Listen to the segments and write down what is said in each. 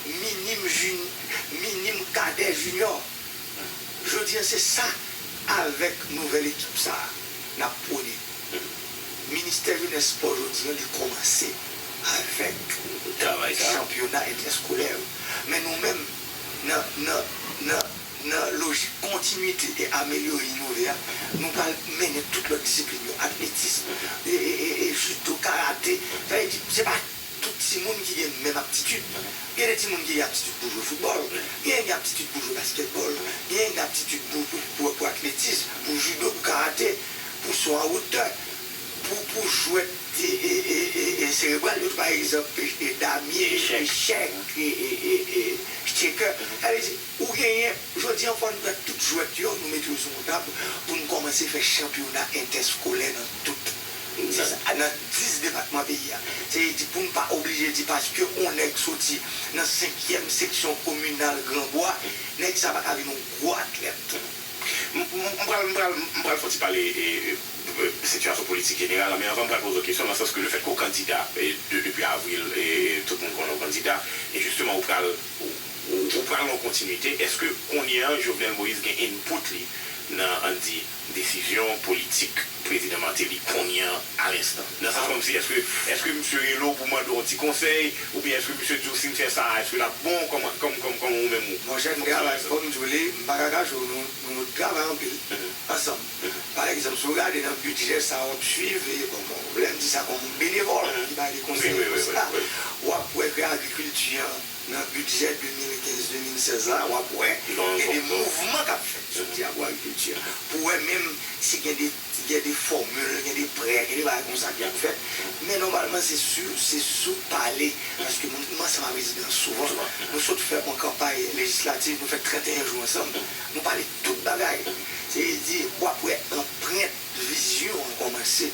minim jin minim kadè jinyò jodi an se sa avèk nouvèl ekip sa nap pwone ministè jenès spò jodi an li kòmanse avèk travay sa chanpyona entèskolè yo men nou menm nan nan nan nan lojik kontinite e amelyore inove a nou pral mennen tout lòt disiplin yo atletism e e e judo karate sa vle di se pa. Tout timoun ki gen menm aptitid. Gen de timoun ki gen aptitid pou jwe foutbòl, genyen ki gen aptitid pou jwe baskètbòl, genyen ki gen aptitid pou pou pou atletis, pou jido, pou karate, pou so an wotè, pou pou jwèt e e e e serebral yo tou pa egzanp e damye, echèk e e e e chekè. Sa vle di ou genyen jodi an fò n pran tout jwèt yo nou mete yo sou yon tab pou n kòmanse fè chanpyona entèskolè nan tout. N di sa nan 10 depatman peyi a. Se di pou n pa oblije di paske on nèg soti nan senkyèm seksyon kominal gran gwa, nèg sa pa ka vin on gwo atlèt. M pral m pral m pral fon ti pale sitiyasyon politik jeneral la men anvan m pral poze w kesyon nan sans ke lefèt ke w kandida de depi avril tout moun konnen w kandida e jisteman ou pral ou pral nan yon kontinite èske kounye an Jovenel Moïse gen input li nan an n di Desizyon politik prezidan Martelly kounye an a lenstan. Nan sa kòmsi eske eske misye rele w pou mande w yon ti konsèy oubyen eske misye di w si n fè sa a eske l ap bon kòman kòm kòm kòm ou menm ou. Bon Jacques m gen anraj fò m di w li m pa ka kache w nou nou nou travay anpil ansanm pa egzanp si w gade nan bidjè sa w ap swiv e bon bon lè m di sa kòm benevòl ki bay de konsèy e konsiy la w ap wè ke agrikilti an Nan bidjè 2015-2016 la, w ap wè gen de mouvman k ap fèt soti akwakilti a pou wè menm si gen de gen de fòmil, gen de prè, gen de bagay konsa ki ap fèt. Men nòmalman se su se sou pale paske moun kman ansanm avè rezidan souvan. Nou sot fè on kanpay lejislativ, nou fè 31 jou ansanm, nou pale tout bagay. Se vle di w ap wè anprent vizyon an kòmanse.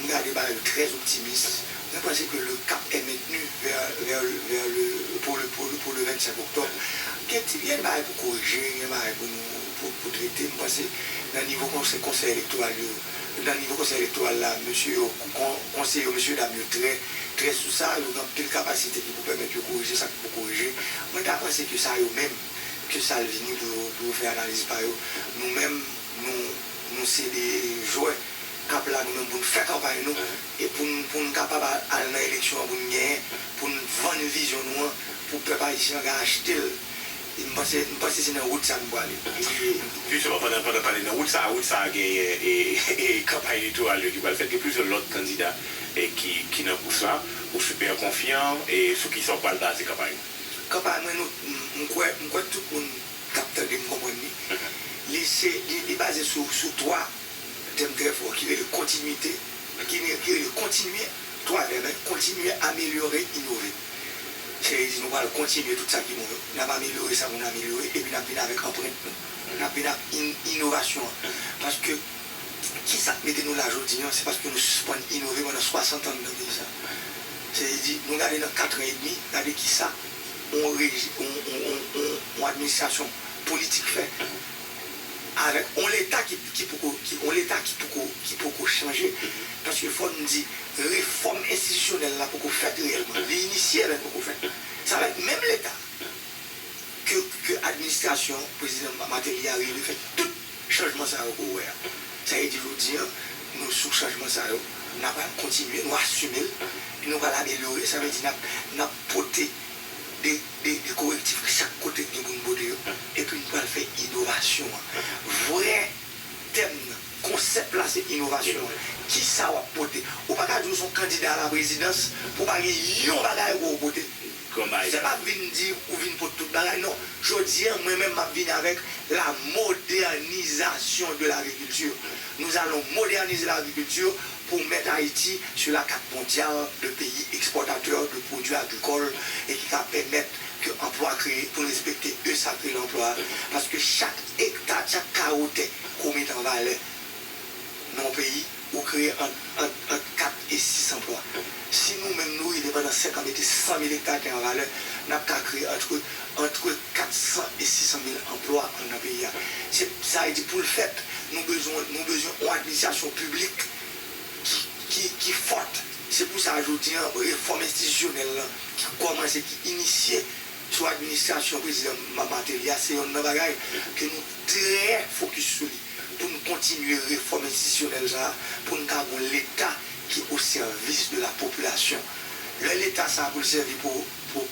Nou gade bagay yo très optimiste. Nou panse ke le cap est maintenu vers le pour le pour le pour le 25 octobre. Gen ti gen bagay pou korije, gen bagay pou nou pou trete. M panse nan nivo konsè konsèy elektoral yo, nan nivo konsèy elektoral la mesye yo kon konseye yo mesye dam yo trè trè sou sa, yo gen anpil kapasite ki pou pèmèt yo korije sa ki pou korije. Mwen ta panse ke sa yo menm ke sa l vini pou yo pou yo fè analiz pa yo. Nou menm nou nou se de jwè. ka blag nou pou n fè kanpay nou e pou n pou n kapab al nan eleksyon an pou n genyen pou n vann vizyon nou an pou pèp ayisyen an ka achte l e m panse m panse se nan wout sa nou pwale. Jisteman pandan pandan pale nan wout sa a wout sa a genyen e e kanpay elektoral yo ki pral fèt gen plizyè lòt kandida e ki ki nan kous la ou sipè konfyan e sou kisa ou pral baze kanpay ou? Kanpay mwen nou m kwè m kwè tout moun k ap tande m konprann li li se li li baze sou sou 3. Tèm trè fò ki rele kontinwite, ki rele kontinye, twa vèb hein, kontinye, amelyore, inove. Seyè Jezi nou pral kontinye tout sa ki bon yo, nap amelyore sa pou nou amelyore epi nap vin avèk anprent nou, nap vin ak inovasyon an paske kisak mete nou la jodi an se paske nou sispann inove pandan 60 an nan peyi sa. Seyè Jezi nou gade nan katran edmi gade kisa yon administrasyon politik fè. avèk yon leta ki poko yon leta ki poko ki poko chanje paske fò n di refòm enstitisyonèl la poko fèt reyèlman li inisye men l poko fèt sa vle di menm leta ke ke administrasyon prezidan Martelly a rive fè tout chanjman sa yo ke w wè a sa vle di jodi an nou sou chanjman sa yo n ap al kontinye nou asime l nou pral amelyore sa vle di n ap n ap pote de de de korektif ki chak kote gen pou n pote yo epi n pral fè inovasyon an. Vrè tèm nan, konsèp la se inovasyon an. Ki sa w ap pote? Ou pa ka di w se yon kandida alaprezidans pou w pa gen yon bagay ou wè ou pote. Se pa vin di ou vin pot tout bagay, non. Jodi an, mwen menm m ap vini avèk la modènizasyon de lagrikilti. Nous allons moderniser l'agriculture pou mèt Ayiti sou la kat mondyal de peyi ekspòtatè de pwodui agrikòl e ki ka pèmèt ke anplwa kreye pou n respekte eu sakre lanplwa paske chak ekta, chak kawo tè ke w mete an valè nan yon peyi ou kreye ant 4 e 6 anplwa. Si nou menm nou rive pandan 5 an mete 100 mil ekta tè an valè, n ap ka kreye antre antre 400 e 600 mil anplwa anndan peyi a. Se sa vle di pou l fèt, nou bezwen nou bezwen yon administrasyon piblik ki ki ki fòt. Se pou sa jodi an refòm enstitisyonèl lan ki kòmanse, ki inisye sou administrasyon prezidan Martelly a se yonn nan bagay ke nou trè fokis sou li pou n kontinye refòm enstitisyonèl sa a pou n ka gon leta ki o sèvis de la popilasyon lè leta sa pou l sèvi pou pou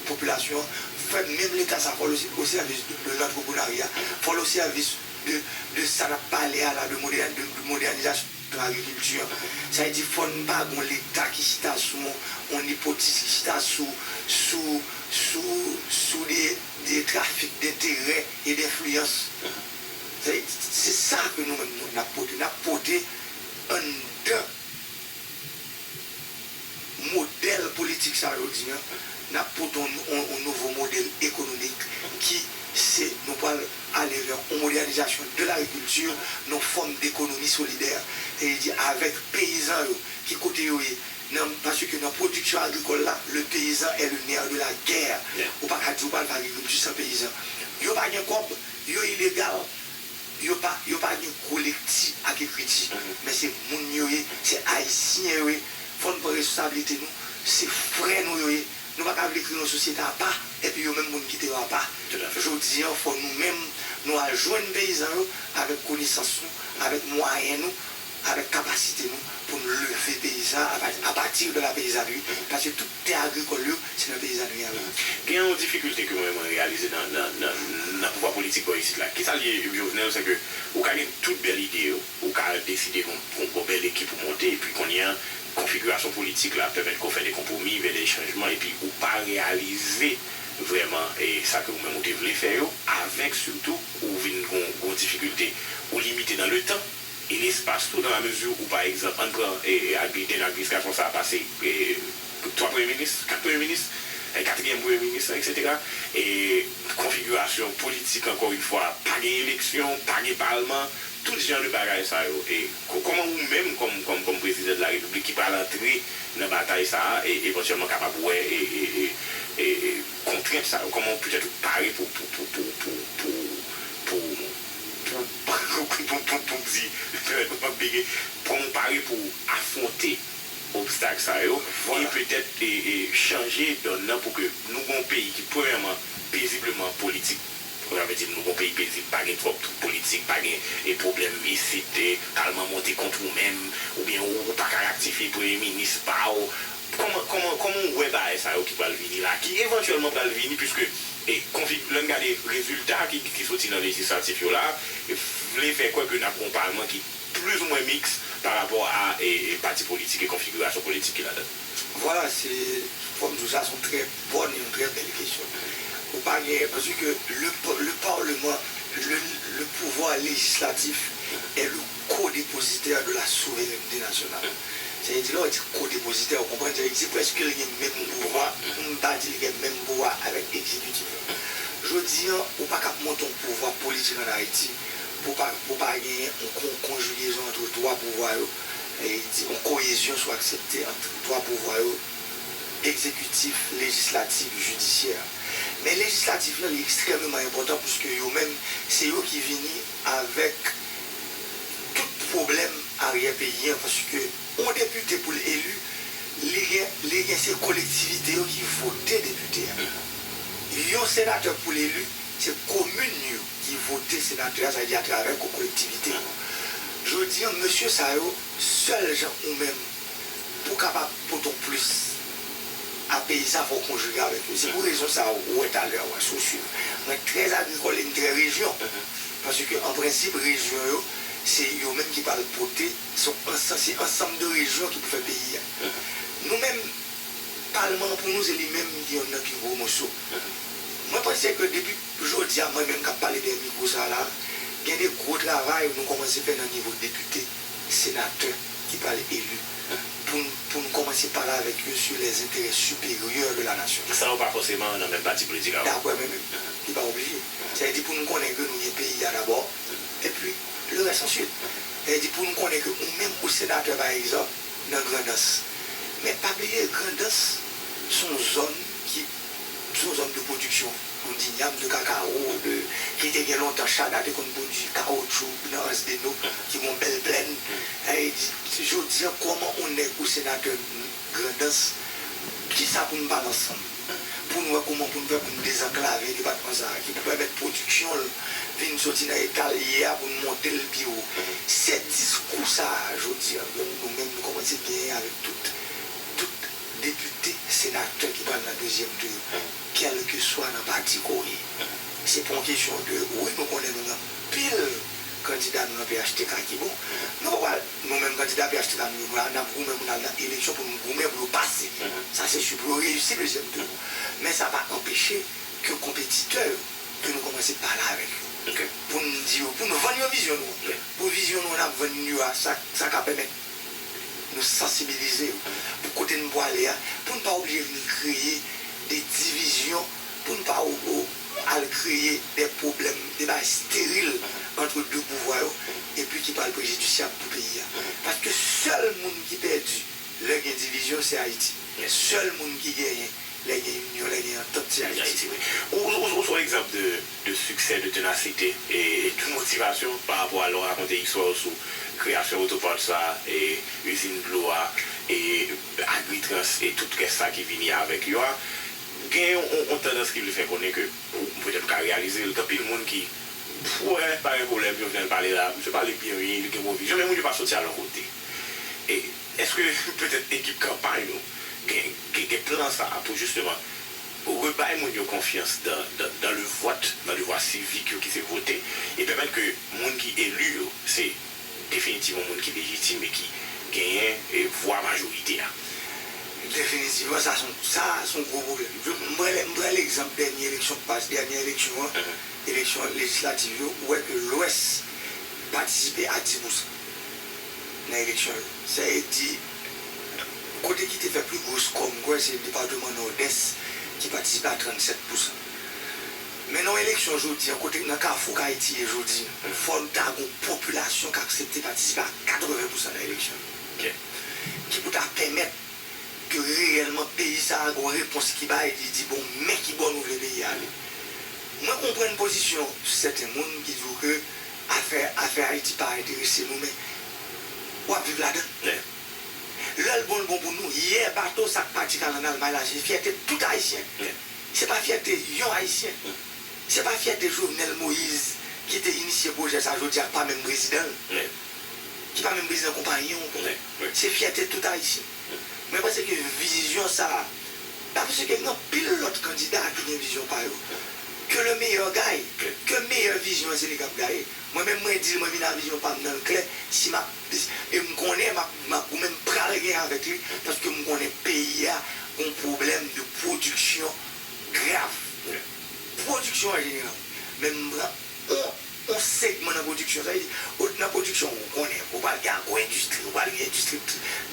popilasyon an fè menm leta sa fò l o sèvis de lantreprenarya fò l o sèvis de de sa n ap pale a la de modè de modènizasyon agrikilti an sa vle di fò n pa gon leta ki chita sou yon yon nipotis ki chita sou sou sou sou de de trafik denterè e denfliyans se sa ke nou menm nou n ap pote n ap pote. Anndan modèl politik sa yo di an, n ap pote yon nouvo modèl ekonomik ki se nou pral ale vè yon modènizasyon de lagrikilti, yon fòm dekonomi solidè. Sa vle di avèk peyizan yo ki kote yo ye nan paske nan pwodiksyon agrikòl la le peyizan è le nè de la gè. Ou pa ka di ou pral fè agrikilti san peyizan. Yo pa gen kòb, yo ilegal. Yo pa yo pa gen gwo lekti ak ekriti men se moun yo ye, se ayisyen yo ye fò n pran resosabilite nou se frè nou yo ye nou pa ka vle kreye yon sosyete apa epi yo menm pou n kite yo apa jodi an fò nou menm nou al jwenn peyizan yo avèk konesans nou avèk mwayen nou avèk kapasite nou pou n leve peyizan apati de la peyizanri, paske tout tè agrikòl yo se nan peyizanri an. Gen yon difikilte ke mwen mwen reyalize nan nan pouvwa politik bò isit la. Kisa li ye Jovenel, se ke ou ka gen tout bèl ide yo, ou ka deside gon bèl ekip ou monte, epi kounye an konfigirasyon politik la pèmèt ke w fè de konpwomi, vè de chanjman, epi ou pa reyalize vrèman sa ke ou menm ou te vle fè yo, avèk sitou ou vin gon difikilte, ou limite nan le tan. e lespas tou nan la mezi ou pa egzanp ann pran ak Biden ak vis gason sa pase 3 premye minis 4 premye minis 4 iyèm premye minis lan eksetera e konfigirasyon politik ankò yn fwa pa gen eleksyon pa gen palman tout jan de bagay sa yo e kòman ou menm kòm kòm kòm prezidan de la repiblik ki pral antre nan batay sa a e evantyèlman kapab wè e e kontrent sa yo kòman ou petèt ou pare pou pou pou pou pou pou. Pou pou di nou pap bege pou nou pare pou afwonte obstak sa yo e petèt chanje dòn nan pou ke nou gon peyi ki premyèman pezibleman politik sa vle di nou gon peyi pezib pa gen twòp twoub politik pa gen pwoblèm isit palman monte kont ou menm oubyen ou paka raktifye premye minis pa w Kòman, kòman, kòman ou wè bagay sa yo ki pral vini la, ki evantyèlman pral vini piske e konfig, lè n gade rezilta ki ki soti nan lejislatif yo la, vle fè kwè ke n ap gen yon palman ki plizoumwen miks pa rapò a e pati politik e konfigirasyon politik ki ladan l. Vwala, se, fò m di w sa se yon trè bòn e yon trè bèl kesyon. Ou pa gen, paske le, le parlement, le, le pouvoir législatif est le. Ko-depozitè de la souverènte nasyonal. Sa vle di lè w di ko-depozitè, ou konprann sa vle di prèske li gen menm pouvwa, pou m pa di li gen menm pouvwa avèk egzekitif la. Jodi an, ou pa kab monte yon pouvwa politik ann Ayiti pou pa pou pa genyen yon kon konjigezon antre twa pouvwa yo, sa vle di yon koyezyon si w aksepte ant twa pouvwa yo, egzekitif, lejislatif, jidisyè. Men lejislatif lan li ekstrèmeman enpòtan pwiske yo menm se yo ki vini. Avèk tout pwoblèm aryè peyi an paske yon depite pou l eli li gen li gen se kolektivite yo ki vote depite a. Yon senatè pou l eli se komin yo ki vote senatè a sa vle di atravè kolektivite yo. Jodi an mesye sa yo sèl jan ou menm Pou kapab pote w plis a peyi sa fòw konjige avèk yo. Se pou rezon sa ou wè talè a wè si w swiv. Mwen trè agrikòl e m trè rejyon. Paske an prensip rejyon yo se yo menm ki pral pote son ansanm se ansanm de rejyon ki pou fè peyi a. Nou menm palman an pou nou se li menm ki yonn nan pi gwo moso. Mwen panse ke depi jodi a mwen menm k ap pale dèyè mikwo sa la gen de gwo travay nou kòmanse fè nan nivo depite. Senatè ki pral eli pou pou n kòmanse pale avèk yo su lè zenterè siperyè de la nasyon. Sa yo pa fòseman nan menm pati politik avèk. Daprè mwen menm, li pa oblije. Sa vle di pou n konnen ke nou gen peyi a dabò, epi le rès answit. Sa vle di pou n konnen ke ou menm ou senatè pa egzanp nan Grandans. Men pa bliye Grandans s on zòn ki. Sou zòn de pwodiksyon pou dinyam, de kakawo, de ki te gen lontan Chada te konn pwodui kawotchou nan Anse des Noc ki gon bèl plèn e di jodi an kòman on nèg ou senatè Grandans kisa pou n pale ansanm pou n wè kouman pou n fè pou n dezanklave depatman sa ki pou pèmèt pwodiksyon l vin soti nan eta l ye a pou n monte l pi wo. Se diskou sa a jodi an menm nou menm nou kòmanse genyen avèk tout tout Depite, senatè ki pral nan dezyèm tou yo, kèlkeswa nan pati ke w ye, se pa yon kesyon de wi nou konnen nou gen pil kandida nou nan phtk ki bon. Nou pa pral, nou menm kandida phtk nou yo, nou ap goumen pou n al nan eleksyon pou nou goumen pou yo pase. Sa se si pou yo reyisi dezyèm tou yo. Men sa pa anpeche ke konpetitè yo, ke nou kòmanse pale avèk yo. Pou n di yo, pou n vann yo vizyon nou an. Pou vizyon nou an n ap vann yo a, sa ka pèmèt. Nou sansibilize yo pou kote n pwale a pou n pa oblije vin kreye de divizyon, pou n pa al kreye de pwoblèm, de bagay steril antre de pouvwa yo epi ki pral prejidisyab pou peyi a. Paske sèl moun ki pèdi lè gen divizyon se Ayiti. Sèl moun ki genyen lè gen inyon, lè gen antant se Ayiti. Ou son egzanp de de succès, de tenacite et de motivation par rapport a lè w rakonte istwa w sou kreyasyon Auto Parts la, Usine Dlo a, Agritrans et tout rès sa ki vini avèk yo a, gen yon tandans ki vle fè konnen ke petèt m ka reyalize l, gen anpil moun ki wè pa gen pwoblèm Jovenel pale la, misye pale byen wi, li gen bon vizyon, men moun yo pa soti al yon kote. Èske petèt ekip kanpay nou gen plan sa pou jisteman Rebay moun yo konfyans dan le vòt, dan devwa sivik yo ki se vote, e pèmèt ke moun ki eli yo se definitivman moun ki lejitim e ki genyen vwa majorite a. Definitivman sa son, sa son gwo pwoblèm. M pran, m pran legzanp dènye eleksyon k pase, dènye eleksyon an, eleksyon lejislativ yo, ou wè ke lwès patisipe a 10 pousan nan eleksyon yo. Sa e di Kote ki te fè pli gwo skò m kwè se depatman Nòdès ki patisipe a 37 pousan. Men nan yon eleksyon jodi an kote nan kafou k Ayiti ye jodi an, fò n ta gon popilasyon k aksepte patisipe a 80 pousan nan eleksyon yo ki pou ta pèmèt ke reyèlman peyi sa a gon repons ki bay ki di bon men ki bò nou vle peyi a ale. Mwen konprann pozisyon sèten moun ki di w ke afè afè Ayiti pa enterese nou men wap viv ladan l. Lè l bon l bon pou nou. Yè bato sa k pati Kalang al May la se fyète tout Ayisyen. Se pa fyète yon Ayisyen. Se pa fyète Jovenel Moise ki te inisye pwojè sa jodi a k pa menm prezidan l, ki pa menm prezidan konpayon l. Se fyète tout Ayisyen. Mwen panse ke vizyon sa a, mwen panse ke gen anpil lòt kandida ki gen vizyon pa yo. Que le meilleur gagne. Ke meyè vizyon an se li k ap gaye. Mwen menm mwen dil mwen vin a vizyon pam nan klè si map em konnen map map goumen m pral gen avèk li paske m konnen peyi a gon pwoblèm de pwodiksyon grav nan pwodiksyon an jeneral men m pran on on segman nan pwodiksyon sa vle di ou nan pwodiksyon ou konnen ou pral gen agwo endistri ou pral gen endistri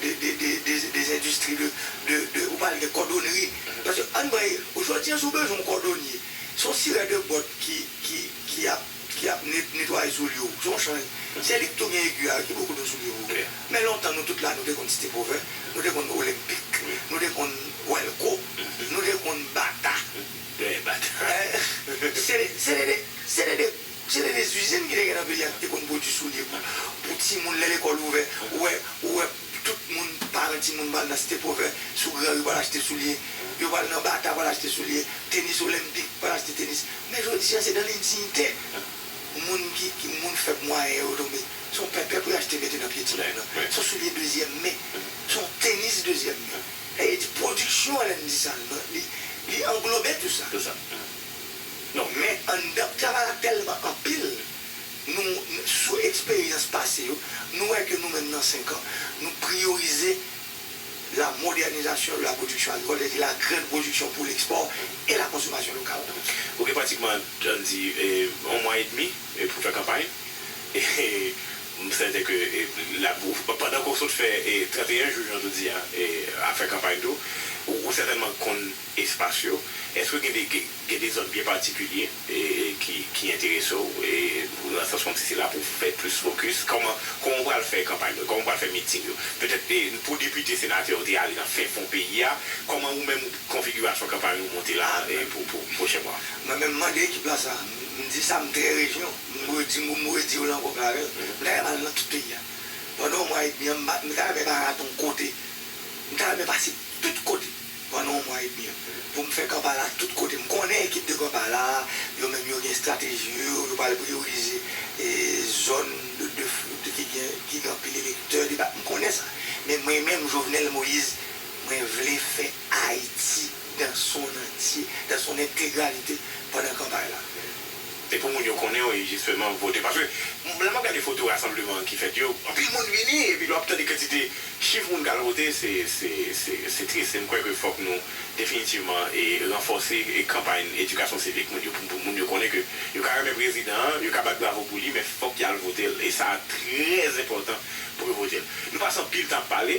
de de de de des endistri de de de ou pral gen kòdonnri paske ann pran jodi an si w bezwen on kòdonnye son sirè de bòt ki ki ki ap. ki ap netwaye soulye w son chan se li k tou gen egi a ki pou koud ou soulye w yo men lontan nou tout la nou te konn site pwovè nou te konn olenpik nou te konn wèlko nou te konn bata dèyè bata se se te de se te de se te de zizin ki te gen nan peyi a ki te konn pwodui soulye pou pou timoun lè lekòl ouvè ou wè ou wè. Tout moun, paran timoun pral nan Site Pwovè, sou Gran Ri pral achte soulye, yo pral nan Bata pral achte soulye, Tenis Olenpik pral achte tenis. Men jodi a se nan lendinyite moun ki moun fèb mwayen yo tonbe. Se yon pèpè pou yo achte mete nan pye timoun nan. Se yon soulye dezyèm men. Se yon tenis dezyèm men. Sa vle di pwodiksyon an lè n di sa li anglobe tou sa. Men anndan travay la tèlman anpil. Nou, sou eksperyans pase yo, nou wè ke nou menm nan 5 an, nou priyorize la modènizasyon de la pwodiksyon agrikòl, sètadi la grande production pour l'export et la consommation locale. Ou gen pratikman, jan n di, yon mwa edmi pou fè kanpay. M sèten ke l ap, pandan ke w sot fè 31 jou, jan tou di a, ap fè kanpay tou, ou sètènman konn espas yo. Èske gen de, Gen de zòn byen patikilye ki enterese w, nan sans kòmsi se la pou w fè plis fokis. Kòman ou pral fè kanpay nou yo? Kòman ou pral fè miting yo? Petèt pou depite, senatè yo te ale nan fen fon peyi a. Kòman ou menm konfigirasyon kanpay ou monte la pou pwochen mwa? Mwen menm m mande ekip la sa. M di sa, m trè rejwen w. M redi m, m redi w lan ankò klarè. M ta renmen al nan tout peyi a. Pandan yon mwa edmi an, m ta renmen pa rate yon kote. M ta renmen pase tout kote. Pandan yon mwa edmi pou m fè Kampala tout kote. M konnen ekip de Kampala yo menm yo gen estrateji yo, yo pral priyorize zòn ki gen anpil elektè, m konnen sa. Men mwen menm Jovenel Moïse, mwen vle fè Ayiti dan son antye, dan son entegralite pandan kanpay la. Se pou moun yo konnen wi jisteman pou vote. Paske lè m ap gade foto rasanbleman ki fèt yo, anpil moun vini epi lè w ap tande kantite chif moun k al vote se tris. E m kwè ke fòk nou definitivman ranfòse kanpay edikasyon sivik moun yo pou moun yo konnen ke yo ka renmen prezidan an, yo ka bat bravo pou li men fòk y al vote l. E sa trè enpòtan pou yo vote l. Nou pase anpil tan ap pale.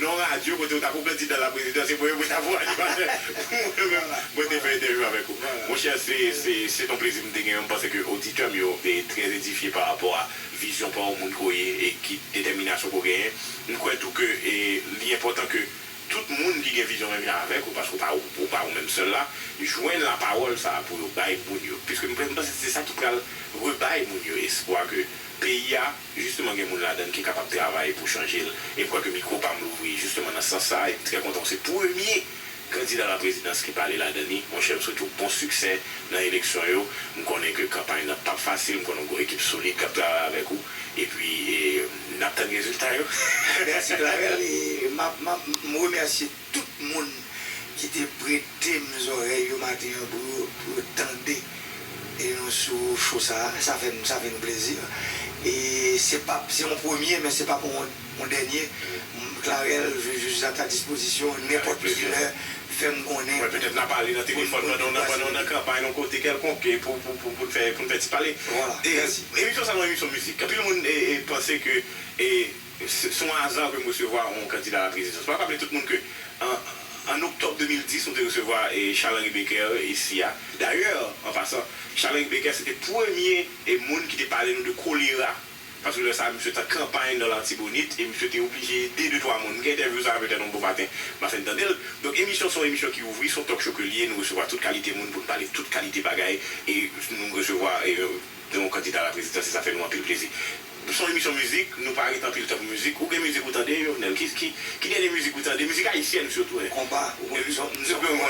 Nan yon radyo kote ou ta pou pèdi dan la prezidan se mwen yo pou ta pou animatè mwen menm mwen te fè entèvyou avèk ou monchè se se se ton plezi m te gen yo m panse ke oditè m yo e trè edifye pa rapò a vizyon pa w moun ke w ye e ki detèminasyon ke w genyen m kwè tou ke e li enpòtan ke tout moun ki gen vizyon menm jan avèk ou paske w pa ou pa ou menm sèl la jwenn la pawòl sa a pou yo bay moun yo piske m panse se sa ki pral rebay moun yo espwa ke peyi a. Jisteman gen moun ladann ki kapab travay pou chanje l e kwè ke mikwo pa m louvri jisteman nan sans sa a e m trè kontan w se premye kandida la prezidans ki pale ladann li. Monchè m swete w bon siksè nan eleksyon yo. M konnen ke kanpay nan pap fasil, m konnen w gen yon ekip solid kap travay avèk ou epi n ap tann rezilta yo. Mèsi Clavel e m ap m remèsye. Tout moun ki te pretem zòrèy yo maten an pou yo tande nou sou show sa sa fèm sa fè nou plezi e se pap se yon premye men se pap yon dènye m Clarel je je suis à ta disposition nenpòt ki lè fèm konnen Mwen petèt na pale nan telefòn pandan w pandan w nan kanpay nan kote kèlkonk e pou pou n fè pou n fè ti pale. Voilà, mèsi. Emisyon sa yon emisyon mizik anpil moun panse ke e. Se yon aza ke m resevwa yon kandida la prezidans. M ap raple tout moun ke an oktòb 2010 nou te resevwa Charles Henri Becker isi a. Dayè, an pasan, Charles Henri Becker se te premye moun ki te pale nou de kolera, paske lè sa a misye te an kanpay nan Latibonit e misye te oblije ede de twa moun. M gen entèvyou sa a petèt yon bon maten m ap fin tande l. Donk emisyon an se yon emisyon ki ouvri, se yon talk show ke li ye, nou resevwa tout kalite moun pou nou pale tout kalite bagay e nou resevwa. Gen yon kandida a la prezidansi sa fè nou anpil plezi. Son emisyon mizik, nou pa ret anpil tan pou mizik. Ou gen mizik ou tande, Jovenel? Ki dènye mizik ou tande? Mizik ayisyèn sitou, hein? Konpa, ou konn, m se plen w konn.